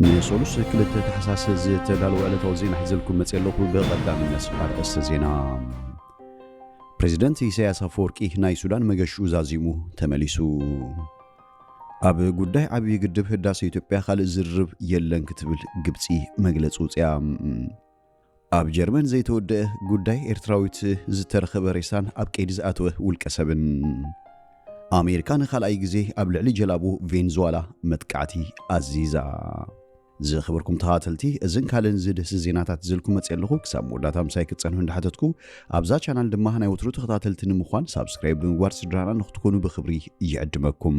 ንሰሉስ ክልተ ታሕሳስ ዝተዳለወ ዕለታዊ ዜና ሒዘልኩም መፅየ ኣለኹ። ብቐዳምነት ኣርእስተ ዜና። ፕሬዚደንት ኢሳያስ ኣፈወርቂ ናይ ሱዳን መገሽኡ ዛዚሙ ተመሊሱ። ኣብ ጉዳይ ዓብዪ ግድብ ህዳሰ ኢትዮጵያ ካልእ ዝርርብ የለን ክትብል ግብፂ መግለፂ ውፅያ። ኣብ ጀርመን ዘይተወደኣ ጉዳይ ኤርትራዊት ዝተረኸበ ሬሳን ኣብ ቀይዲ ዝኣተወ ውልቀ ሰብን። ኣሜሪካ ንካልኣይ ግዜ ኣብ ልዕሊ ጀላቡ ቬንዙዋላ መጥቃዕቲ ኣዚዛ። ዝኸበርኩም ተኸታተልቲ እዝን ካልእን ዝድህሲ ዜናታት ዝልኩ መጽእ ኣለኹ ክሳብ መወዳእታ ምሳይ ክትጸንሑ እንዳሓተትኩ ኣብዛ ቻናል ድማ ናይ ወትሩ ተኸታተልቲ ንምዃን ሳብስክራይብ ብምግባር ስድራና ንክትኮኑ ብክብሪ ይዕድመኩም።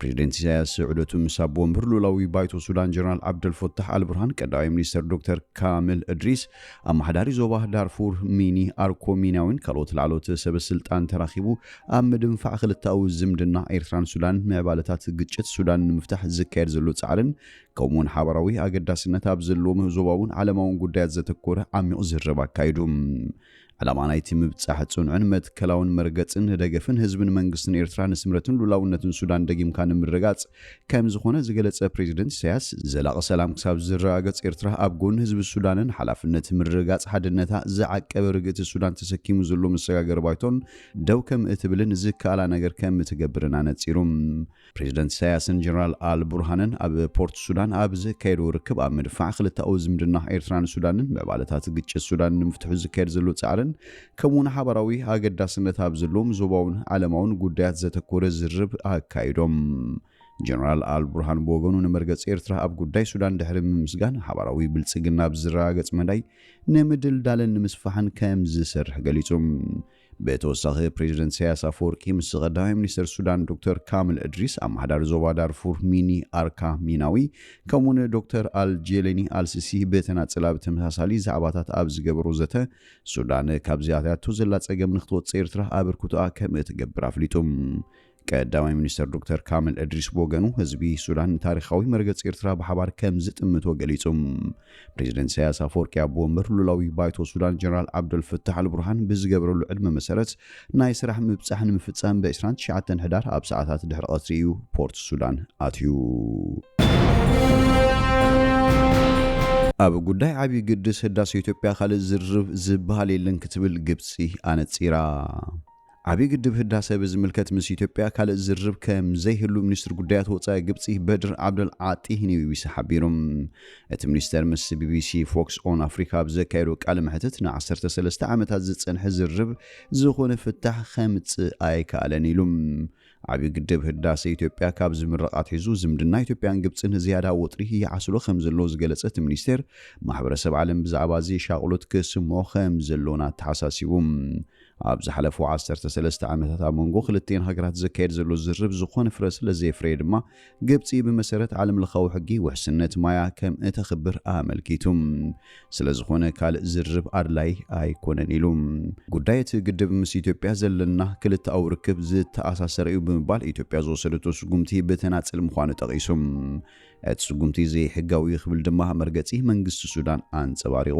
ፕሬዚደንት ኢሳያስ ዑደቱ ምስ ኣቦ ወንብር ልኡላዊ ባይቶ ሱዳን ጀነራል ዓብደልፎታሕ ኣልቡርሃን፣ ቀዳማይ ሚኒስተር ዶክተር ካምል እድሪስ፣ ኣመሓዳሪ ዞባ ዳርፉር ሚኒ ኣርኮ ሚናዊን ካልኦት ላዕለዎት ሰበ ስልጣን ተራኺቡ ኣብ ምድንፋዕ ክልተኣዊ ዝምድና ኤርትራን ሱዳንን ምዕባለታት ግጭት ሱዳን ንምፍታሕ ዝካየድ ዘሎ ጻዕርን ከምኡ'ውን ሓባራዊ ኣገዳስነት ኣብ ዘለዎም ዞባውን ዓለማውን ጉዳያት ዘተኮረ ዓሚቕ ዝርርብ ኣካይዱ። ዕላማ ናይቲ ምብጻሕ ጽኑዕን መትከላውን መርገጽን ንደገፍን ህዝብን መንግስትን ኤርትራ ንስምረትን ሉላውነትን ሱዳን ደጊምካ ንምርጋጽ ከምዝኾነ ዝገለጸ ፕሬዚደንት ኢሳያስ ዘላቒ ሰላም ክሳብ ዝረጋገጽ ኤርትራ ኣብ ጎኒ ህዝቢ ሱዳንን ሓላፍነት ምርግጋጽ ሓድነታ ዝዓቀበ ርግእቲ ሱዳን ተሰኪሙ ዘሎ መሰጋገሪ ባይቶን ደው ከምእትብልን ዝከኣላ ነገር ከምትገብርን ኣነጺሩ። ፕሬዚደንት ኢሳያስን ጀነራል ኣል ቡርሃንን ኣብ ፖርት ሱዳን ኣብ ዘካየድዎ ርክብ ኣብ ምድፋዕ ክልተኣዊ ዝምድና ኤርትራን ሱዳንን፣ ምዕባለታት ግጭት ሱዳን ንምፍትሑ ዝካየድ ዘሎ ጻዕርን ከምኡ'ውን ሓባራዊ ኣገዳስነት ኣብ ዘለዎም ዞባውን ዓለማውን ጉዳያት ዘተኮረ ዝርርብ ኣካይዶም። ጀነራል ኣል ቡርሃን ብወገኑ ንመርገጺ ኤርትራ ኣብ ጉዳይ ሱዳን ድሕሪ ምምስጋን፣ ሓባራዊ ብልጽግና ኣብ ዝረጋገጽ መዳይ ንምድልዳልን ንምስፋሕን ከምዝሰርሕ ገሊጹ። ብተወሳኺ ፕሬዚደንት ኢሳያስ ኣፈወርቂ ምስ ቐዳማይ ሚኒስተር ሱዳን ዶክተር ካምል እድሪስ፣ ኣመሓዳሪ ዞባ ዳርፉር ሚኒ ኣርካ ሚናዊ ከምኡውን ዶክተር ኣል ጄሌኒ ኣል ሲሲ ብተናጽል ኣብ ተመሳሳሊ ዛዕባታት ኣብ ዝገበሮ ዘተ ሱዳን ካብዚ ኣትያቶ ዘላ ጸገም ንክትወጽእ ኤርትራ ኣበርክቶኣ ከምእትገብር ኣፍሊጡ። ቀዳማይ ሚኒስተር ዶክተር ካምል እድሪስ ብወገኑ ህዝቢ ሱዳን ንታሪኻዊ መርገጺ ኤርትራ ብሓባር ከም ዝጥምቶ ገሊጹ። ፕሬዚደንት ኢሳያስ ኣፈወርቂ ኣቦ ወንበር ሉላዊ ባይቶ ሱዳን ጀነራል ዓብደልፍታሕ ኣልቡርሃን ብዝገበረሉ ዕድመ መሰረት ናይ ስራሕ ምብጻሕ ንምፍጻም ብ29 ሕዳር ኣብ ሰዓታት ድሕሪ ቀትሪ እዩ ፖርት ሱዳን ኣትዩ። ኣብ ጉዳይ ዓብዪ ግድስ ህዳሴ ኢትዮጵያ ካልእ ዝርርብ ዝበሃል የለን ክትብል ግብፂ ኣነፂራ። ዓብዪ ግድብ ህዳሰ ብዝምልከት ምስ ኢትዮጵያ ካልእ ዝርርብ ከምዘይህሉ ሚኒስትር ጉዳያት ወፃኢ ግብፂ በድር ዓብደል ዓጢ ንቢቢሲ ሓቢሩ። እቲ ሚኒስተር ምስ ቢቢሲ ፎክስ ኦን ኣፍሪካ ኣብ ዘካየዶ ቃለ መሕትት ንዓሰርተ ሰለስተ ዓመታት ዝፀንሐ ዝርርብ ዝኾነ ፍታሕ ከምፅእ ኣይከኣለን ኢሉ። ዓብዪ ግድብ ህዳሰ ኢትዮጵያ ካብ ዝምረቕ ኣትሒዙ ዝምድና ኢትዮጵያን ግብፅን ዝያዳ ወጥሪ ይዓስሎ ከምዘሎ ዝገለፀ እቲ ሚኒስቴር ማሕበረሰብ ዓለም ብዛዕባ እዚ ሻቕሎት ክስምዖ ከምዘሎን ኣተሓሳሲቡ። ኣብ ዝሓለፉ ዓሰርተ ሰለስተ ዓመታት ኣብ መንጎ ክልቲኤን ሃገራት ዝካየድ ዘሎ ዝርርብ ዝኾነ ፍረ ስለ ዘየፍረየ ድማ ግብጺ ብመሰረት ዓለም ለኻዊ ሕጊ ውሕስነት ማያ ከም እተኽብር ኣመልኪቱ ስለ ዝኾነ ካልእ ዝርርብ ኣድላይ ኣይኮነን ኢሉ። ጉዳይ እቲ ግድብ ምስ ኢትዮጵያ ዘለና ክልተኣዊ ርክብ ዝተኣሳሰረ እዩ ብምባል ኢትዮጵያ ዝወሰደቶ ስጉምቲ ብተናጽል ምዃኑ ጠቒሱ እቲ ስጉምቲ ዘይሕጋዊ እዩ ክብል ድማ መርገጺ መንግስቲ ሱዳን ኣንጸባሪቑ።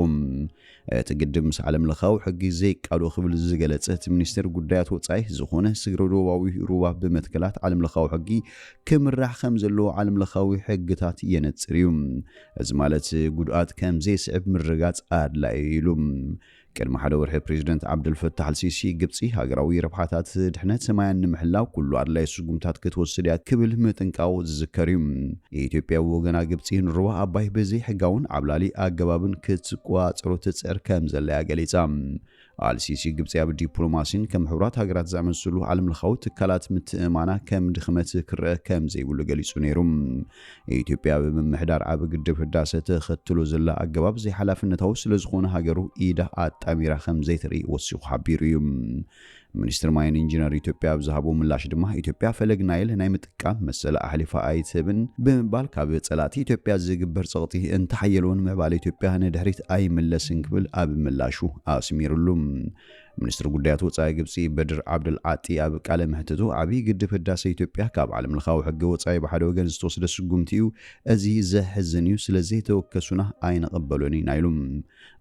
እቲ ግድብ ምስ ዓለም ለኻዊ ሕጊ ዘይቃዶ ክብል ዝገለጸ እቲ ሚኒስቴር ጉዳያት ወጻኢ ዝኾነ ስግረ ዶባዊ ሩባ ብመትከላት ዓለም ለኻዊ ሕጊ ክምራሕ ከም ዘለዎ ዓለም ለኻዊ ሕግታት የነጽር እዩ። እዚ ማለት ጉድኣት ከም ዘይስዕብ ምርግጋጽ ኣድላዪ እዩ ኢሉ። ቅድሚ ሓደ ወርሒ ፕሬዚደንት ዓብደልፈታሕ ኣልሲሲ ግብጺ ሃገራዊ ረብሓታት ድሕነት ማያን ንምሕላው ኩሉ ኣድላዪ ስጉምትታት ክትወስድ እያ ክብል ምጥንቃቑ ዝዝከር እዩ። ኢትዮጵያ ብወገና ግብጺ ንሩባ ኣባይ ብዘይሕጋውን ዓብላሊ ኣገባብን ክትቆጻጸሮ ትጽዕር ከምዘላ'ያ ገሊጻ። ኣልሲሲ ግብጺ ኣብ ዲፕሎማሲን ከም ሕቡራት ሃገራት ዝኣመሰሉ ዓለምለኻዊ ትካላት ምትእምማና ከም ድኽመት ክረኣ ከምዘይብሉ ገሊጹ ነይሩ። ኢትዮጵያ ኣብ ምምሕዳር ዓቢ ግድብ ህዳሰ ተኸትሎ ዘላ ኣገባብ ዘይሓላፍነታዊ ስለዝኾነ ሃገሩ ኢዳ ኣጣሚራ ከምዘይተርኢ ወሲኹ ሓቢሩ እዩ። ሚኒስትሪ ማይን ኢንጂነር ኢትዮጵያ ኣብ ዝሃቦ ምላሽ ድማ ኢትዮጵያ ፈለግ ናይል ናይ ምጥቃም መሰላ ኣሕሊፋ ኣይትህብን ብምባል ካብ ፀላእቲ ኢትዮጵያ ዝግበር ፀቕጢ እንተሓየለውን ምዕባለ ኢትዮጵያ ንድሕሪት ኣይምለስን ክብል ኣብ ምላሹ ኣስሚርሉ። ሚኒስትሪ ጉዳያት ወፃኢ ግብፂ በድር ዓብደል ዓጢ ኣብ ቃለ መሕትቱ ዓብዪ ግድብ ህዳሰ ኢትዮጵያ ካብ ዓለም ለኻዊ ሕገ ወፃኢ ብሓደ ወገን ዝተወስደ ስጉምቲ እዩ፣ እዚ ዘሕዝን እዩ፣ ስለዘይተወከሱና ኣይንቕበሎን ኢና ኢሉ።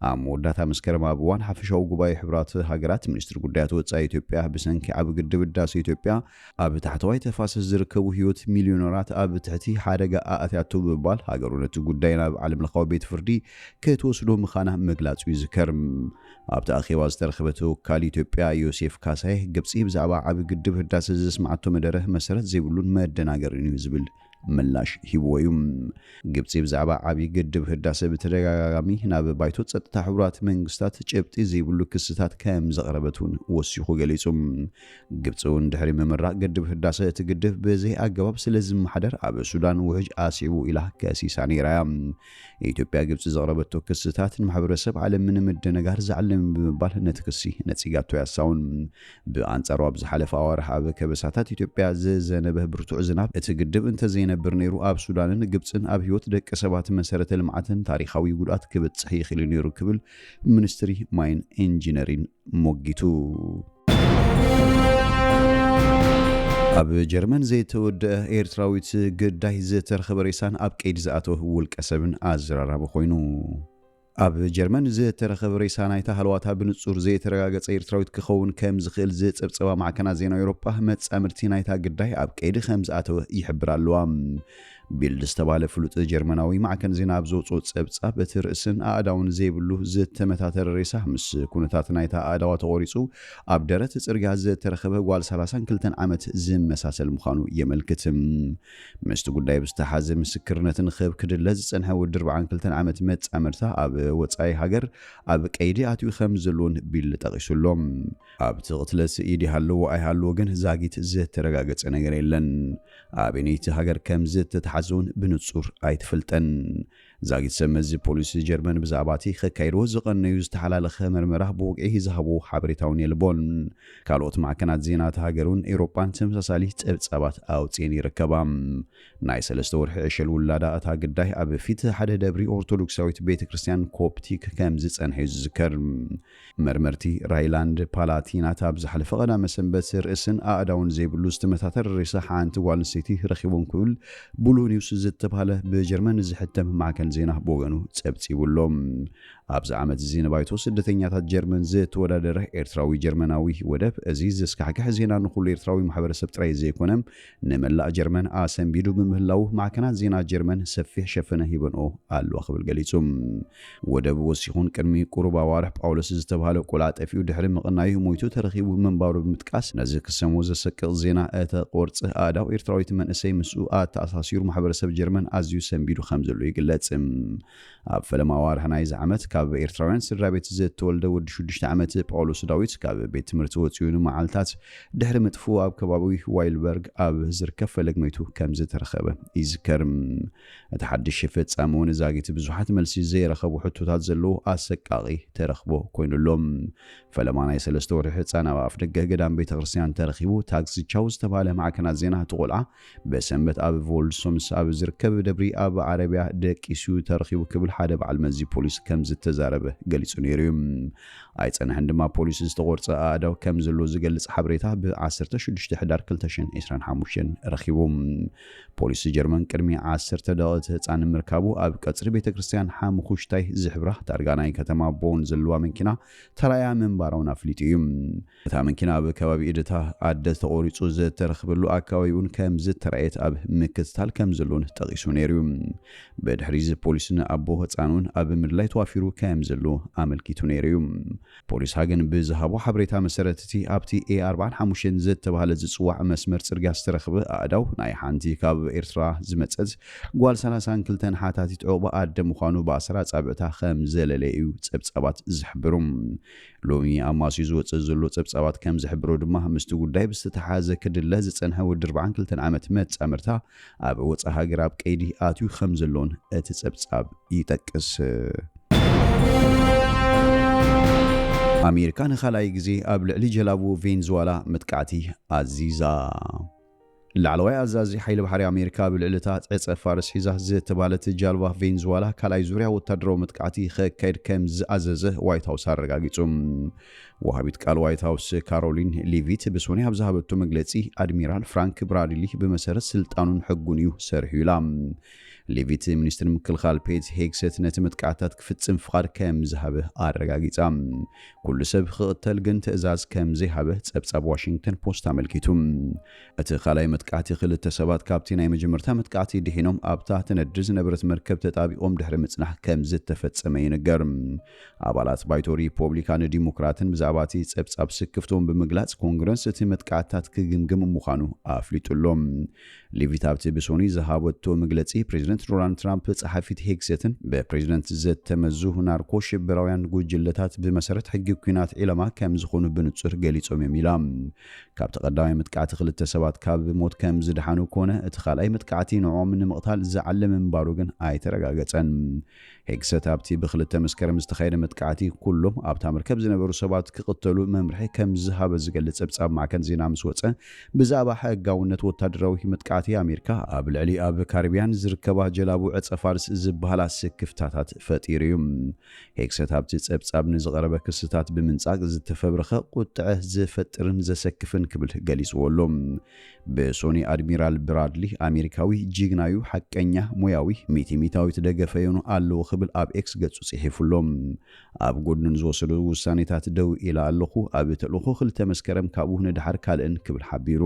ኣብ መወዳእታ መስከረም ኣብ እዋን ሓፈሻዊ ጉባኤ ሕቡራት ሃገራት ሚኒስትሪ ጉዳያት ወጻኢ ኢትዮጵያ ብሰንኪ ዓቢ ግድብ ህዳሰ ኢትዮጵያ ኣብ ታሕተዋይ ተፋሰስ ዝርከቡ ህይወት ሚልዮነራት ኣብ ትሕቲ ሓደጋ ኣእትያቶ ብምባል ሃገሩ ነቲ ጉዳይ ናብ ዓለምለኻዊ ቤት ፍርዲ ክትወስዶ ምኻና ምግላጹ ይዝከር። ኣብቲ ኣኼባ ዝተረኽበ ተወካሊ ኢትዮጵያ ዮሴፍ ካሳዬ ግብጺ ብዛዕባ ዓቢ ግድብ ህዳሰ ዘስምዓቶ መደረ መሰረት ዘይብሉን መደናገሪን እዩ ዝብል ምላሽ ሂብዎ'ዩ። ግብጺ ብዛዕባ ዓብዪ ግድብ ህዳሰ ብተደጋጋጋሚ ናብ ባይቶ ጸጥታ ሕቡራት መንግስታት ጭብጢ ዘይብሉ ክስታት ከም ዘቕረበት እውን ወሲኹ ገሊጹ። ግብጺ እውን ድሕሪ ምምራቕ ግድብ ህዳሰ እቲ ግድብ ብዘይኣገባብ ስለ ዝመሓደር ኣብ ሱዳን ውሕጅ ኣስዒቡ ኢላ ከሲሳ ነይራ'ያ። ኢትዮጵያ ግብፂ ዘቕረበቶ ክስታት ንማሕበረሰብ ዓለም ንምድንጋር ዝዓለመ ብምባል ነቲ ክሲ ነፂጋቶ እያ እስሳውን። ብኣንፃሩ ኣብ ዝሓለፈ ኣዋርሕ ኣብ ከበሳታት ኢትዮጵያ ዝዘነበ ብርቱዕ ዝናብ እቲ ግድብ እንተዘይነብር ነይሩ ኣብ ሱዳንን ግብፅን ኣብ ህይወት ደቂ ሰባትን መሰረተ ልምዓትን ታሪኻዊ ጉድኣት ክብፅሕ ይኽእል'ዩ ነይሩ ክብል ሚኒስትሪ ማይን ኢንጂነሪን ሞጊቱ። ኣብ ጀርመን ዘይተወደአ ኤርትራዊት ግዳይ ዝተረኸበ ሬሳን ኣብ ቀይዲ ዝኣተወ ውልቀ ሰብን ኣዘራራቢ ኮይኑ። ኣብ ጀርመን ዝተረኸበ ሬሳ ናይታ ሃለዋታ ብንጹር ዘይተረጋገጸ ኤርትራዊት ክኸውን ከም ዝኽእል ዝጸብጸባ ማዕከናት ዜና ኤውሮጳ፣ መጻምድቲ ናይታ ግዳይ ኣብ ቀይዲ ከም ዝኣተወ ይሕብራ ኣለዋ። ቢልድ ዝተባህለ ፍሉጥ ጀርመናዊ ማዕከን ዜና ኣብ ዘውጽኦ ጸብጻብ፣ እቲ ርእስን ኣእዳውን ዘይብሉ ዝተመታተረ ሬሳ፣ ምስ ኩነታት ናይታ ኣእዳዋ ተቖሪጹ ኣብ ደረት ጽርግያ ዝተረኸበ ጓል ሰላሳን ክልተን ዓመት ዝመሳሰል ምዃኑ የመልክት። ምስቲ ጉዳይ ብዝተሓሓዘ ምስክርነት ንኽህብ ክድለ ዝጸንሐ ወዲ ኣርብዓን ክልተን ዓመት መጻምድታ ኣብ ወጻኢ ሃገር ኣብ ቀይዲ ኣትዩ ከም ዘሎ'ውን ቢልድ ጠቒሱ ኣሎ። ኣብቲ ቅትለት ኢድ ይሃልዎ ኣይሃልዎ ግን ዛጊት ዝተረጋገጸ ነገር የለን። ኣበነይቲ ሃገር ከም ዝተታሕዘውን ብንጹር ኣይትፈልጠን። ዛጊት ሰብ መዚ ፖሊስ ጀርመን ብዛዕባቲ ከካይድዎ ዝቐነዩ ዝተሓላለኸ መርመራ ብወግዒ ዝሃብዎ ሓበሬታውን የልቦን። ካልኦት ማዕከናት ዜና እታ ሃገርውን ኤውሮጳን ተመሳሳሊ ጸብጻባት ኣውጺኤን ይርከባ። ናይ ሰለስተ ወርሒ ዕሸል ውላዳ እታ ግዳይ ኣብ ፊት ሓደ ደብሪ ኦርቶዶክሳዊት ቤተ ክርስቲያን ኮፕቲክ ከም ዝጸንሐዩ ዝዝከር። መርመርቲ ራይላንድ ፓላቲናት ኣብ ዝሓለፈ ቀዳመ ሰንበት ርእስን ኣእዳውን ዘይብሉ ዝተመታተረ ሬሳ ሓንቲ ጓል ኣንስተይቲ ረኺቦም ክብል ብሉህ ኒውስ ዝተብሃለ ብጀርመን ዝሕተም ማዕከን ዜና ብወገኑ ጸብጺቡ ኣሎ። ኣብዚ ዓመት እዚ ንባይቶ ስደተኛታት ጀርመን ዝተወዳደረ ኤርትራዊ ጀርመናዊ ወደብ እዚ ዘስካሕክሕ ዜና ንኹሉ ኤርትራዊ ማሕበረሰብ ጥራይ ዘይኮነ ንመላእ ጀርመን ኣሰንቢዱ ብምህላዉ ማዕከናት ዜና ጀርመን ሰፊሕ ሸፈነ ሂበንኦ ኣለዋ ክብል ገሊጹ። ወደብ ወሲኹን ቅድሚ ቁሩብ ኣዋርሕ ጳውሎስ ዝተብሃለ ቆልዓ ጠፊኡ ድሕሪ ምቕናዩ ሞይቱ ተረኺቡ ምንባሩ ብምጥቃስ ነዚ ክሰምዎ ዘሰቅቕ ዜና እተ ቆርጽ ኣእዳው ኤርትራዊቲ መንእሰይ ምስኡ ኣተኣሳሲሩ ማሕበረሰብ ጀርመን ኣዝዩ ሰንቢዱ ከምዘሎ ይግለጽ። ኣብ ፈለማ ኣዋርሕ ናይዚ ዓመት ካብ ኤርትራውያን ስድራቤት ዝተወልደ ወዲ ሽዱሽተ ዓመት ጳውሎስ ዳዊት ካብ ቤት ትምህርቲ ወጺኡ ንመዓልታት ድሕሪ ምጥፍኡ ኣብ ከባቢ ዋይልበርግ ኣብ ዝርከብ ፈለግ መይቱ ከም ዝተረኸበ ይዝከር። እቲ ሓድሽ ፍጻመ እውን ዛጊት ብዙሓት መልሲ ዘይረኸቡ ሕቶታት ዘለዎ ኣሰቃቒ ተረኽቦ ኮይኑ ኣሎ። ፈለማ ናይ ሰለስተ ወርሒ ህጻን ኣብ ኣፍደገ ገዳም ቤተ ክርስትያን ተረኺቡ ታክሲ ቻው ዝተባህለ ማዕከናት ዜና እቲ ቆልዓ ብሰንበት ኣብ ቮልሶምስ ኣብ ዝርከብ ደብሪ ኣብ ዓረብያ ደቂሱ'ዩ ተረኺቡ ክብል ሓደ በዓል መዚ ፖሊስ ከምዝተዛረበ ገሊጹ ነይሩ'ዩ። ኣይጸንሐን ድማ ፖሊስ ዝተቖርጸ ኣእዳው ከምዘለዎ ዝገልጽ ሓበሬታ ብ ዓሰርተ ሽዱሽተ ሕዳር ክልተ ሽሕን ዕስራን ሓሙሽተን ረኺቡ። ፖሊስ ጀርመን ቅድሚ ዓሰርተ ደቒቕ እቲ ህጻን ምርካቡ ኣብ ቀጽሪ ቤተክርስትያን ሓሙኹሽታይ ዝሕብራ ታርጋ ናይ ከተማ ቦን ዘለዋ መኪና ተራእያ ምንባራ'ውን ኣፍሊጡ'ዩ። እታ መኪና ኣብ ከባቢ ኢድታ ኣደ ተቖሪጹ ዝተረኽበሉ ኣከባቢ'ውን ከምዝተራእየት ኣብ ምክትታል ከምዘሎን ጠቒሱ ነይሩ'ዩ። ብድሕሪ'ዚ ፖሊስ ንኣቦ ህጻን'ውን ኣብ ምድላይ ተዋፊሩ ከምዘሎ ኣመልኪቱ ነይሩ'ዩ። ፖሊስ ሃገን ብዝሃቦ ሓበሬታ መሰረት እቲ ኣብቲ ኤ ኣርብዓን ሓሙሽተን ዝተባህለ ዝጽዋዕ መስመር ጽርግያ ዝተረኽበ ኣእዳው ናይ ሓንቲ ካብ ኤርትራ ዝመጸት ጓል ሰላሳን ክልተን ሓታቲት ዑቕባ ኣደ ምዃኑ ብኣሰር ኣጻብዕታ ከምዘለለየ'ዩ ጸብጻባት ዝሕብሩ። ሎሚ ኣብ ማስዩ ዝወጽእ ዘሎ ጸብጻባት ከም ዝሕብሮ ድማ ምስቲ ጉዳይ ብዝተተሓሓዘ ክድለ ዝጸንሐ ወዲ ኣርብዓን ክልተን ዓመት መጻምርታ ኣብ ወጻኢ ሃገር ኣብ ቀይዲ ኣትዩ ከም ዘሎን እቲ ጸብጻብ ይጠቅስ። ኣሜሪካ ንኻልኣይ ግዜ ኣብ ልዕሊ ጀላቡ ቬንዙዋላ መጥቃዕቲ ኣዚዛ። ላዕለዋይ ኣዛዚ ሓይሊ ባሕሪ ኣሜሪካ ኣብ ልዕሊ እታ ዕጸ ፋርስ ሒዛ ዝተባህለት ጃልባ ቬንዙዋላ ካልኣይ ዙርያ ወታደራዊ መጥቃዕቲ ከካይድ ከም ዝኣዘዘ ዋይት ሃውስ ኣረጋጊጹ። ወሃቢት ቃል ዋይት ሃውስ ካሮሊን ሊቪት ብሶኑይ ኣብ ዝሃበቶ መግለጺ ኣድሚራል ፍራንክ ብራድሊ ብመሰረት ስልጣኑን ሕጉን እዩ ሰሪሑ ኢላ። ሌቪት ሚኒስትሪ ምክልኻል ፔት ሄግሰት ነቲ መጥቃዕትታት ክፍጽም ፍቓድ ከም ዝሃበ ኣረጋጊጻ። ኩሉ ሰብ ክቕተል ግን ትእዛዝ ከም ዘይሃበ ጸብጻብ ዋሽንግተን ፖስት ኣመልኪቱ። እቲ ካልኣይ መጥቃዕቲ ክልተ ሰባት ካብቲ ናይ መጀመርታ መጥቃዕቲ ድሒኖም ኣብታ ትነድድ ዝነበረት መርከብ ተጣቢቖም ድሕሪ ምጽናሕ ከም ዝተፈጸመ ይንገር። ኣባላት ባይቶ ሪፖብሊካን ዲሞክራትን ብዛዕባ እቲ ጸብጻብ ስክፍትኦም ብምግላጽ ኮንግረስ እቲ መጥቃዕትታት ክግምግም ምዃኑ ኣፍሊጡ ኣሎ። ሊቪት ኣብቲ ብሶኑይ ዝሃበቶ መግለጺ፣ ፕሬዚደንት ዶናልድ ትራምፕ ጸሓፊት ሄግሴትን ብፕሬዚደንት ዘተመዙ ናርኮ ሽበራውያን ጉጅለታት ብመሰረት ሕጊ ኩናት ዒላማ ከምዝኾኑ ብንጹር ገሊጾም እዮም ኢላ። ካብቲ ቀዳማይ መጥቃዕቲ ክልተ ሰባት ካብ ሞት ከምዝደሓኑ ኮነ እቲ ካልኣይ መጥቃዕቲ ንዕኦም ንምቕታል ዝዓለመ ምንባሩ ግን ኣይተረጋገጸን። ሄግሰት ኣብቲ ብክልተ መስከረም ዝተኻየደ መጥቃዕቲ ኩሎም ኣብታ መርከብ ዝነበሩ ሰባት ክቕተሉ መምርሒ ከም ዝሃበ ዝገልጽ ጸብጻብ ማዕከን ዜና ምስ ወጸ፣ ብዛዕባ ሕጋውነት ወተሃደራዊ መጥቃዕቲ ኣሜሪካ ኣብ ልዕሊ ኣብ ካሪብያን ዝርከባ ጀላቡ ዕጸ-ፋርስ ዝበሃላ ስክፍታታት ፈጢሩ እዩ። ሄግሰት ኣብቲ ጸብጻብ ንዝቐረበ ክስታት ብምንጻግ ዝተፈብረኸ፣ ቁጥዐ ዝፈጥርን ዘሰክፍን ክብል ገሊጽዎ ኣሎ። ብሶኒ ኣድሚራል ብራድሊ ኣሜሪካዊ ጂግናዩ ሓቀኛ ሞያዊ ሚቲሚታዊ ትደገፈዮኑ ኣለዎ ክብል ኣብ ኤክስ ገጹ ጽሒፉ ኣሎ። ኣብ ጎድኑ ንዝወሰዶ ውሳኔታት ደው ኢለ ኣለኹ፣ ኣብ ተልእኾ ክልተ መስከረም ካብኡ ንደሓር ካልእን ክብል ሓቢሩ።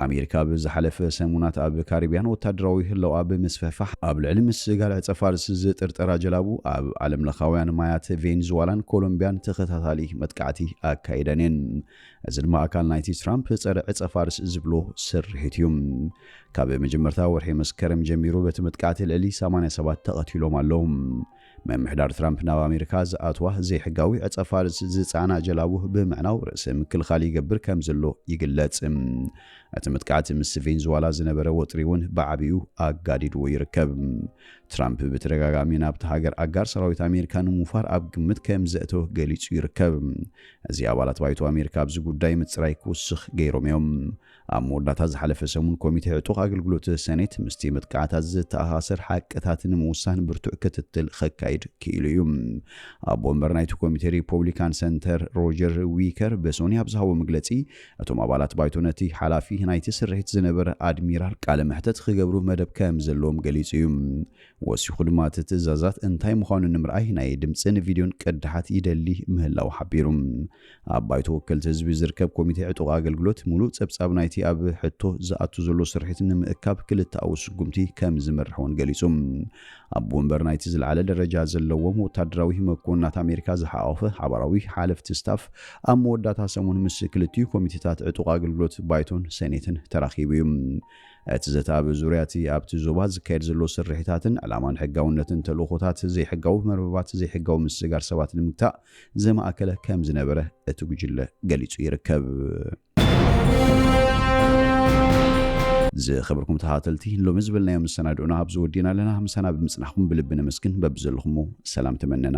ኣሜሪካ ኣብ ዝሓለፈ ሰሙናት ኣብ ካሪብያን ወታደራዊ ህላወኣ ብምስፍሕፋሕ ኣብ ልዕሊ ምስ ጋል ዕጸፋርስ ዝጥርጠራ ጀላቡ ኣብ ዓለምለኻውያን ማያት ቬንዝዋላን ኮሎምብያን ተኸታታሊ መጥቃዕቲ ኣካይደን እየን። እዚ ድማ ኣካል ናይቲ ትራምፕ ጸረ ዕጸፋርስ ዝብሎ ስርሒት እዩ። ካብ መጀመርታ ወርሒ መስከረም ጀሚሩ በቲ መጥቃዕቲ ልዕሊ 80 ሰባት ተቐቲሎም ኣለዉ። ምምሕዳር ትራምፕ ናብ ኣሜሪካ ዝኣትዋ ዘይሕጋዊ ዕጸፋርስ ዝጸዓና ጀላቡ ብምዕናው ርእሰ ምክልኻል ይገብር ከም ዘሎ ይግለጽ። እቲ መጥቃዕቲ ምስ ቬንዙዋላ ዝነበረ ወጥሪ እውን ብዓቢኡ ኣጋዲድዎ ይርከብ። ትራምፕ ብተደጋጋሚ ናብቲ ሃገር ኣጋር ሰራዊት ኣሜሪካ ንምውፋር ኣብ ግምት ከም ዘእተወ ገሊጹ ይርከብ። እዚ ኣባላት ባይቶ ኣሜሪካ ኣብዚ ጉዳይ ምጽራይ ክውስኽ ገይሮም እዮም። ኣብ መወዳእታ ዝሓለፈ ሰሙን ኮሚቴ ዕጡቕ ኣገልግሎት ሰኔት ምስቲ መጥቃዕቲ ኣዚ ዝተኣሳሰር ሓቅታት ንምውሳን ብርቱዕ ክትትል ኸካይድ ክኢሉ እዩ። ኣቦ ወንበር ናይቲ ኮሚቴ ሪፖብሊካን ሰንተር ሮጀር ዊከር ብሶኒ ኣብ ዝሃቦ መግለጺ እቶም ኣባላት ባይቶ ነቲ ሓላፊ ናይቲ ስርሒት ዝነበረ ኣድሚራል ቃለ መሕተት ኽገብሩ መደብ ከም ዘለዎም ገሊጹ እዩ። ወሲኹ ድማ እቲ ትእዛዛት እንታይ ምዃኑ ንምርኣይ ናይ ድምፅን ቪድዮን ቅዳሓት ይደሊ ምህላው ሓቢሩ። ኣብ ባይቶ ወከልቲ ህዝቢ ዝርከብ ኮሚቴ ዕጡቕ ኣገልግሎት ሙሉእ ፀብፃብ ናይቲ ኣብ ሕቶ ዝኣቱ ዘሎ ስርሒት ንምእካብ ክልተኣዊ ስጉምቲ ከምዝምርሕ እውን ገሊፁ። ኣቦ ወንበር ናይቲ ዝለዓለ ደረጃ ዘለዎም ወታደራዊ መኮንናት ኣሜሪካ ዝሓቖፈ ሓባራዊ ሓለፍቲ ስታፍ ኣብ መወዳእታ ሰሙን ምስ ክልቲኡ ኮሚቴታት ዕጡቕ ኣገልግሎት ባይቶን ሰኔትን ተራኺቡ እዩ። እቲ ዘተ ኣብ ዙርያ እቲ ኣብቲ ዞባ ዝካየድ ዘሎ ስርሒታትን ዕላማን ሕጋውነትን ተልእኾታት ዘይሕጋዊ መርበባት ዘይሕጋዊ ምስግጋር ሰባት ንምግታእ ዘማእከለ ከምዝነበረ እቲ ጉጅለ ገሊጹ ይርከብ። ዝኸበርኩም ተኸታተልቲ ሎሚ ዝበልናዮ መሰናድኡና ኣብዚ ወዲእና ኣለና። ምሳና ብምጽናሕኩም ብልቢ ነመስግን። በብዘለኹሞ ሰላም ተመነና።